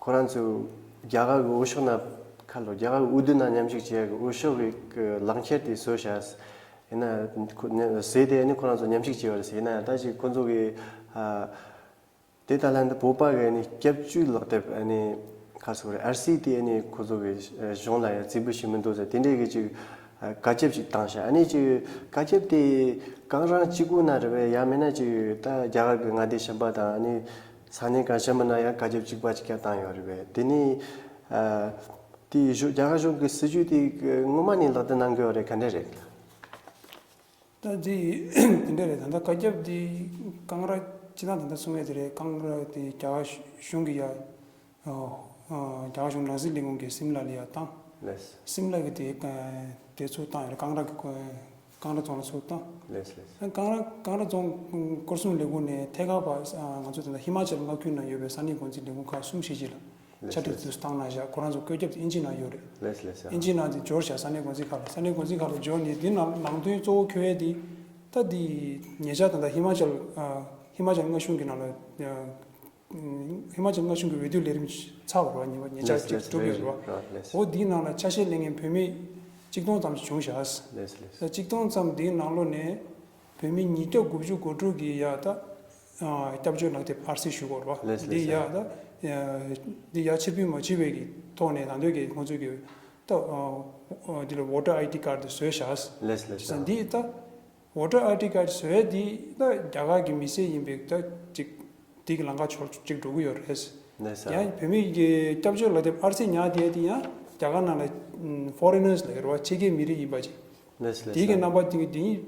ཁོ་རང་ཚོས་རྒྱ་གར་གྱི་འོས་ཤོག་ན་ཁ་ལོ་རྒྱ་གར་གྱི་དབུས་བསྡུ་ན་མཉམ་གཞུག་བྱས་ཀྱི་འོས་ཤོག་གི་ལག་འཁྱེར་དེ་བཟོས་བྱས། ཡིན་ན་བཟས་དེ་ཡིན་ན་ཁོ་རང་ཚོ་མཉམ་གཞུག་བྱས་པ་རེད་ཡིན་ན་ད་ཅིག་ཁོ་ཚོ་གི་དེ་ད་ལན་དུ་བོད་པ་གི་སྐྱབས་བཅོལ་ལག་དེབ་ཁ་སོ་རེད RC དེ་ཡིན་ན་ཁོ་ཚོ་གི་གཞུང་ལ་ཡང་རྩིས་པོ་ཞིག་མི་འདུག་ཟེར་དེ་འདྲའི་གི་ཅིག་བཀའ་སྐྱབས་ཅིག་བཏང་བྱས་ནས་ཅིག་བཀའ་སྐྱབས་དེ་གང་རང་སྤྱི་སྒོ་ན་རེད་པས་ཡང་མིན་ན་ཅིག་ད་རྒྱ་གར་གྱི་མངའ་སྡེ་གཞན་པ་དང་ས་གནས་གང་ཞིག་མིན་ན་ཡང་བཀའ་རྒྱ་གཅིག་པ་ཅིག་ཀྱང་བཏང་ཡོད་རེད་བས་དེ་ནི། དེའི་གཞུག་རྒྱ་གར་གཞུང་གི་སྲིད་ཇུས་དེ་སྔོན་མ་ནས་ལག་བསྟར་གནང་གི་ཡོད་རེད་ག་འདྲས་རེད། ད་དེ་དེ་འདྲས་རེད་ད་ལྟ་བཀའ་རྒྱ་དེ་ཀང་ར་ཅི་ན་ད་ལྟ་སྲུང་ཡོད་དེ་རེད་ཀང་ར་དེ་རྒྱ་གར་གཞུང་གི་ཡ་རྒྱ་གར་གཞུང་ནང་སྲིད་ལས་ཁུངས་ཀྱི་སིམ་ལ་ལ་ཡ་བཏང། སིམ་ལ་གི་དེ་དེ་ཚོ་བཏང་ཡོད་རེད་ཀང་ར་གི་ཀང་ར་རྫོང་ལ་སོགས་དང། ཀང་ར་ཀང་ར་རྫོང་སྐོར་སྲུང་ལས་ཁུངས་ནས་ཐད་ཀར་བར་ང་ཚོ་དང་ཧི་མཱ་ཅལ་མངའ་ཁུལ་ནང་ཡོད་པའི་ས་གནས་འགོ་འཛིན་ལས་ཁུངས་ཁག་གསུམ་ཞེ་གཅིག་ལ་ཆ་སྒྲིག་བསྡུ་སྟངས་ནང་བཞག་ཁོ་རང་ཚོ་བཀོད་ཁྱབ་དེ་ཨིན་ཇི་ནང་ཡོད་རེད། ཨིན་ཇི་ནང་དེ་འབྱོར་བཞག་ས་གནས་འགོ་འཛིན་ཁག་ལ་ས་གནས་འགོ་འཛིན་ཁག་ལ་འབྱོར་ནས་དེ་ནང་ནང་དོན་གཙོ་བོ་ཁྱོད་ཡས་དེ་ད་དེ་ངེད་ཅག་དང་ད་ཧི་མཱ་ཅལ་ཧི་མཱ་ཅལ་མངའ་གཞུང་གི་ནང་ལ་ཧི་མ་ཅལ་མངའ་གཞུང་གི་འོས་བསྡུའི་ལས་རིམ་ཚགས་པར་བ་ཉིན་པ་ཉེ་ཆར་བཅས་སུ་གྲུབ་ཡོད་པ། འོ་དེའི་ནང་ལ་ཆ་ཤས་གླེང་མཁན་བོད་མི་གཅིག་སྟོང་ཙམ་ཞིག་བྱུང་བཞག་གཅིག་སྟོང་ཙམ་དེའི་ནང་ལོ་ནས་བོད་མི་ཉིས་བརྒྱ་དགུ་བཅུ་གོ་དྲུག་གིས་ཡ་ད་སྐྱབས་བཅོལ་ལག་དེབ་ཨར་སི་ཞུ་སྐོར་བ་དེ་ཡ་ད་དེ་ཡ་ཕྱིར་འབུལ་མ་བྱས་པའི་ཐོག་ནས་ད་འདོད་ཀྱི་ཁོང་ཚོས་ཀྱི་ད་འདི་ལ་བོ་ཏར་ཨའི་ཏི་ཀར་དེ་བཟོས་བཞག། དེ་ས་འདི་ད། འོ་ཀྲ་ཨ་ཀྲི་ཀ་ཟེར་བས་འདི་ད་རྒྱ་གར་གྱི་མི་སེར་ཡིན་པས་ད་ཅིག་འདི་གི་ལང་ཀ་ཆོར་ཅིག་འགྲོ་གི་ཡོད་རེད། གནས་ས། ཡང་བོད་མིའི་སྐྱབས་བཅོལ་ལག་དེབ་ཨར་ཚེ་ཉག་རྡེའི་དེ་ཡང་རྒྱ་གར་ནང་ལ Foreigners ལས་རེ་བ་ཕྱི་རྒྱལ་མི་རིགས་ཡིན་པ་ཅིག་གནས་ས། འདི་གི་རྣམ་པ་དེ་གཉིས་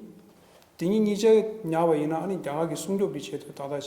དེ་གཉིས་གཉིས་བཅས་ཉར་བ་ཡིན་ན་ཨ་ནི་རྒྱ་གར་གྱི་སྲུང་སྐྱོབ་ཀྱི་ཆེད་དུ་ཏག་ཏག་བྱེད་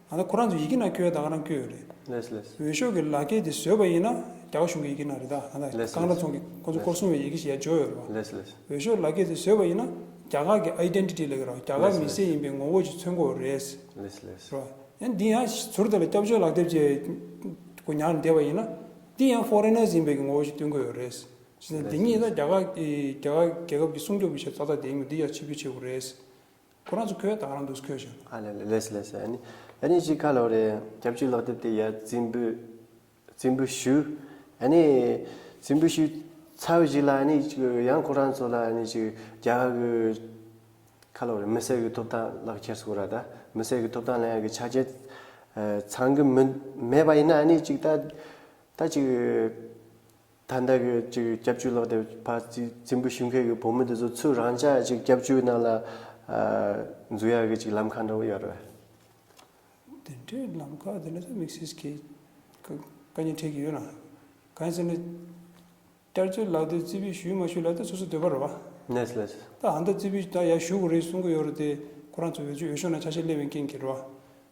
ང་ཚོ་ཁོ་རང་ཚོའི་ཡི་གེ་ནང་བསྐྱོད་ཡོད་དང་ང་རང་བསྐྱོད་ཡོད་རེད། འོས་ཤོག་གི་ལག་ཁྱེར་དེ་བཟོས་པ་ཡིན་ན་རྒྱ་གར་གཞུང་གི་ཡི་གེ་ནང་རེད་དང་ང་ཚ་ཀང་ར་རྫོང་གི་ཁོང་ཚོ་སྐོར་སྲུང་བའི་ཡི་གེ་ཞིག་ཡ་འཇོག་ཡོད་རེད་པ། འོས་ཤོག་ལག་ཁྱེར་དེ་བཟོས་པ་ཡིན་ན་རྒྱ་གར་གི Identity ལས་ཀྱི་རང་རྒྱ་གར་མི་སེར་ཡིན་པའི་ངོ་བོ་ཞིག་མཚོན་དགོས་རེད། ཡང་འདི་ཡང་ཟུར་དེ་ལ་སྐྱབས་བཅོལ་ལག་དེབ་ཅེས་སྒོ་ཉག་ནས་འདེབས་པ་ཡིན་ན་འདི་ཡང Foreigners ཡིན་པའི་ངོ་བོ་ཞིག་སྟོན་དགོས་ཡོད་རེད། བྱས་ཙང་འདི་གཉིས་ད་རྒྱ་གར་རྒྱ་གར་རྒྱལ་ཁབ་ཀྱི་སྲུང་སྐྱོབ་ཀྱི་ཆེད་ཙག་ཙག་བསྡད་ཡིན་པ་འདི་ཡང་ཕྱིར་ཕུད་བྱེད་དགོས་རེད། ཁོ་རང་ཚོ་ཁོའི་དང་རང་འདུག་ཁོས་བྱས། ཨ་ལས་ལས་ལས་ལས་ནི་ཨ་ནི་ཅིག་ཁ་ལོ་རེ། སྐྱབས་ཀྱི་ལག་དེབ་དེ་ཡར་རྩིས་འབུལ་རྩིས་འབུལ་ཞུ། ཨ་ནི་རྩིས་འབུལ་ཞུས་ཚར་བའི་ཅིག་ལ་ཨ་ནི་ཅིག་ཡང་ཁོ་རང་ཚོ་ལ་ཨ་ནི་ཅིག་རྒྱ་གར་གྱི། ཁ་ལོ་རེ་མི་སེར་གྱི་ཐོབ་ཐང་ལག་ཁྱེར་སུ་ར་ད་མི་སེར་གྱི་ཐོབ་ཐང་ལ་ཡང་གི་ཆ་རྐྱེན། ཚང་གི་མི་མེད་པ་ཡིན་ན་ཨ་ནི་ཅིག་ད་ད་ཅིག། ད་ལྟ་གི་གཅིག་སྐྱབས་བཅོལ་ལོག་དེབ་ཕར་རྩིས་འབུལ་ཞུ་མཁན་གྱི་བོད་མི་དེ་ཚོ་ཚུར་རང་ཅག་གཅིག་སྐྱབས་བཅོལ་ནང་ལ་འཛུལ་ཡག་གི་གཅིག་ལམ་ཁ་འདྲ་བོ་ཡོད་རེད། དེ་འདྲའི་ལམ་ཁ་དེ་ལ་ཚོ་དམིགས་བསལ་གྱི་དཀའ་ཉེན་འཕྲད་ཀྱི་ཡོད། གང་ཟེར་ན། སྐྱར་བཅོལ་ལག་དེབ་རྩིས་འབུལ་ཞུས་མ་ཞུས་ལ་ལྟ་སོ་སོ་འདོད་པ་རེད་བ། ནས་ལས། ད་ཧ་འདྲ་རྩིས་འབུལ་ད་ཡར་ཞུ་དགོས་རེད་གསུང་གི་ཡོད་རེད་དེ་ཁོ་རང་ཚོ་འོས་ཆོས་འོས་ཤོག་ནང་ཆ་ཤས་སླེབས་ཡོད་མཁན་གྱི་རེད་བ།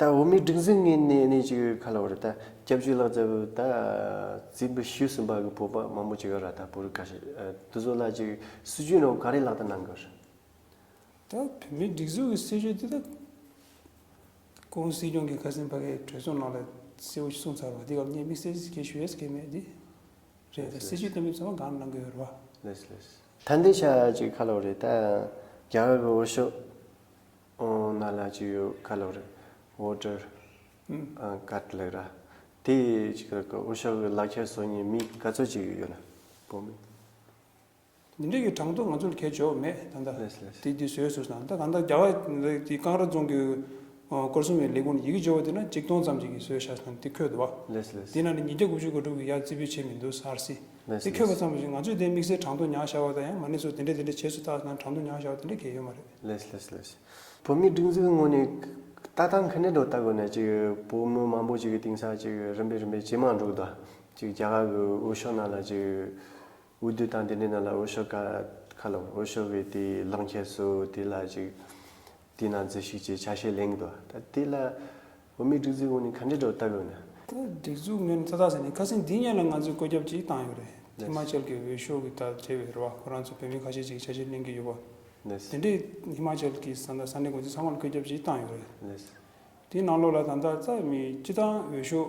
ད་འོ་མའི་སྒྲིག་འཛུགས་ངེས་གནས་གནས་ཅིག་ག་ལ་བ་རེད་ད་སྐྱབས་བཅོལ་ལགས་ཚ་བོ་ད་རྩིས་འབུལ་ཞུས་ཟིན་པ་གི་བོད་པ་མང་པོ་ཅིག་ག་ར་ད་བོད་རིགས་ག་ཤེད་དུ་བཟོ་ལ་ཅིག་སྲིད་ཇུས་ནང་ག་རེ་ལག་བསྟར་གནང་གི་རེད། ད་བོད་མིའི་སྒྲིག་འཛུགས་ཀྱི་སྲིད་ཇུས་འདི་ད་ཀོང་སྲིད་སྐྱོང་གི་ཁ་སེམས་པ་གའི་གྲོས་ཚོགས་ནང་ལ་གསལ་བོ་གསུངས་ཚར་བ་དེ་གམ་ངས་དམིགས་བསལ་གྱིས་ཞུ་ཡས་ཀྱི་མེད་དེ་རེད་ད་སྲིད་ཇུས་གཏམ་རྒྱུད་ཚང་མ་གང་གནང་གི་ཡོད་རེད་བ། ད་འདི་ཆ་ཅིག་ག་ལ་བ་རེད་ད་རྒྱ་གར་གི་འོས་ཤོག། ཨོང་ན་ལ་ཅི་ཡོད་ཁ་ལོ་རེད། Water། ཀར་ལེགས་ར། དེ་ཅིག་རེད་ཀོ་ཨོ་ཤོག་གི་ལག་ཁྱེར་བཟོ་ཉིན་མི་ག་ཚོད་ཅིག་ཡོད་ན་བོ་མི། འདི་འདྲ་གི་གྲངས་ཐོ་ང་ཚོར་ཁྱད་ཆོས་མེད་ད་ལྟ། དེ་དེ་བཟོས་བཟོས་སོང་ད་གང་ལྟར་རྒྱ་བལ་དེ་ཀང་ར་རྫོང་གི་སྐོར་སྲུང་བའི་ལས་ཁུངས་ནས་ཡི་གེ་འབྱོར་བ་དེ་ན་གཅིག་སྟོང་ཙམ་ཅིག་གི་བཟོས་བཞག་སོང་དེ་ཁོད་དུ་བ། དེ་ན་ནི་ཉིས་བརྒྱ་དགུ་བཅུ་དགའ་དྲུག་གི་ཡར་རྩིས་འབུལ་བྱས་མི་འདུག་ཟར་སི། དེ་ཁྱོད་པ་ཙམ་པོ་ཞིག་ང་ཚོས་དེ་དམིགས་བསལ་གྲངས་ཐོ་ཉག་བཞག་བ་དང་ཡང་མ་ནི་སོ་དེ་འདྲ་དེ་འདྲ་བྱས་སུ་བཏགས་ན་གྲངས་ཐོ་ཉག་བཞག་བ་དེ་འདྲ་གལ་ཡོད་མ་རེད། ལེགས་ལེགས་ལེགས། བོད་མིའི་སྒྲིག་འཛུགས་ངོས་ནས། ལྟ་སྟངས་ཁ་ནད་དོ་ལྟ་དགོས་ན་ཅིག་བོད་མི་མང་པོ་ཅིག་གི་དིང་སང་ཅིག་རིམ་པས་རིམ་པས་ཇེ་མང་འགྲོ་གི་དང། ཅིག་རྒྱ་གར་གི་འོས་ཤོག་རྣམས་ལ་ཅིག། འོས་བསྡུ་དང་དེ་འདྲའི་རྣམས་ལ་འོས་ཤོག་ཀ་ཁ་ལོ་འོས་ཤོག་གི་དེ་ལག་འཁྱེར་སུ་དེ་ལ་ཅིག། དེ་རྣམས་རྩིས་ཞིག་ཅིག་ཆ་ཤས་ལེན་གི་དོ། ད་དེ་ལ། འོ་མའི་སྒྲིག་འཛུགས་ངོས་ནས་ག་འདྲའི་སྒྲ་བཏབ་ཡོད་ནས། སྒྲིག་འཛུགས་ངོས་ནས་ཚ་ཐག་བྱས་ནས་ཁ་སེང་འདི་གཉིས་ལ་ང་ཚོས་བཀོད་རྒྱབ་ཅིག་བཏང་ཡོད་རེད་ཧི་མ་ཅལ་གྱི་འོས་ཤོག་གི་དག་བྱས་པའི་རེ་བ་ཁོ་རང་ཚོ་བོད་མི་ཁ་ཤས་ཅིག་གིས་ཆ་བཞིན་གླེང་གི་ཡོད་པ། དེ་འདྲས་ཧི་མ་ཅལ་གྱི་ས་མཐའ་ས་གནས་ཀུན་ཚོས་ཚང་མར་བཀོད་རྒྱབ་ཅིག་བཏང་ཡོད་རེད། དེའི་ནང་ལོགས་ལ་ད་ལྟ་རྩ་མེད་སྤྱི་བཏང་འོས་ཤོག་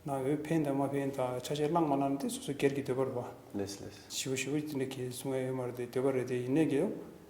ནང་འོས་འཕེན་དང་མ་འཕེན་དག་ཆ་བཞིན་བླངས་མ་བླངས་དེ་སོ་སོའི་སྒེར་གྱི་འདོད་པ་རེད་པ། བྱིའུ་བྱིའུ་ཀྱི་འདི་འདྲ་གྱིས་སུ་ངའི་འོས་མ་རེད་དེ་འདོད་པ་རེད་དེ་ཡིན་ནའི་གི།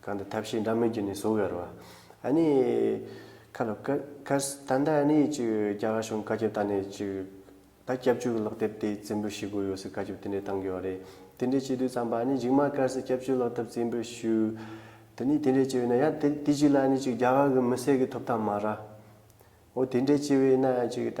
གང་དུ་ཐབས་ཤེས་འདྲ་མིན་གྱིས་ནི་བཟོ་བའི་རོ། ཨཱ་ནི། ཁ་ལོ། ཀ། ད་ལྟ་ཨཱ་ནི་ཅིག་རྒྱ་གར་གཞུང་བཀའ་ཁྱབ་བཏང་ནས་ཅིག། ད་སྐྱབས་བཅོལ་གྱི་ལག་དེབ་དེ་རྩིས་འབུལ་ཞུ་དགོས་ཡོད་ཟེར་བཀའ་ཁྱབ་དེ་འདྲས་བཏང་དགོས་པ་རེད། དེ་འདྲས་བྱེད་དུས་ཙམ་པ་ཨཱ་ནི་འཇིགས་མ་དཀར་སེར་སྐྱབས་བཅོལ་ལག་དེབ་རྩིས་འབུལ་ཞུ། དེ་ནི་དེ་འདྲས་བྱས་ཡོད་ན་ཡང་དེ་དུས་ཅིག་ལ་ཨཱ་ནི་ཅིག་རྒྱ་གར་གྱི་མི་སེར་གྱི་ཐོབ་ཐང་མ་རག། འོ་དེ་འདྲས་བྱས་པས་ན་ཅིག་ད།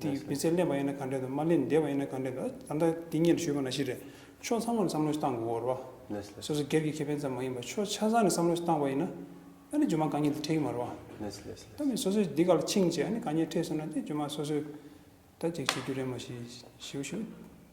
འདི་བི་ཚེ་སླེབས་པ་ཡིན་ན་ག་འདྲས་འདུག་མ་སླེབས་འདས་པ་ཡིན་ན་ག་འདྲས་འདུག་ད་ལྟ་འདི་གཉིས་ལ་ཞུས་པ་ན་ཞིག་རེད་ཆོག་མཚམས་ལམ་བསམ་བློ་བཏང་དགོས་འོར་བ། སོ་སོ་སྒེར་གྱི་ཁེ་ཕན་ཙམ་མ་ཡིན་པར་ཆོག་ཆ་ཚང་ནས་བསམ་བློ་བཏང་བ་ཡིན་ན་ཨ་ནི་ཇོ་མ་གང་ཉིད་དེ་འཕྲད་ཀྱི་མ་རུང་བ། ད་མི་སོ་སོས་འདི་ག་ལ་ཕྱིན་རྗེས་ཨ་ནི་གང་ཉིད་འཕྲད་སོང་ན་དེ་ཇོ་མ་སོ་སོས་ད་ཅིག་བྱེད་རྒྱུ་རེད་མ་ཞེས་ཞུ་ཞུ།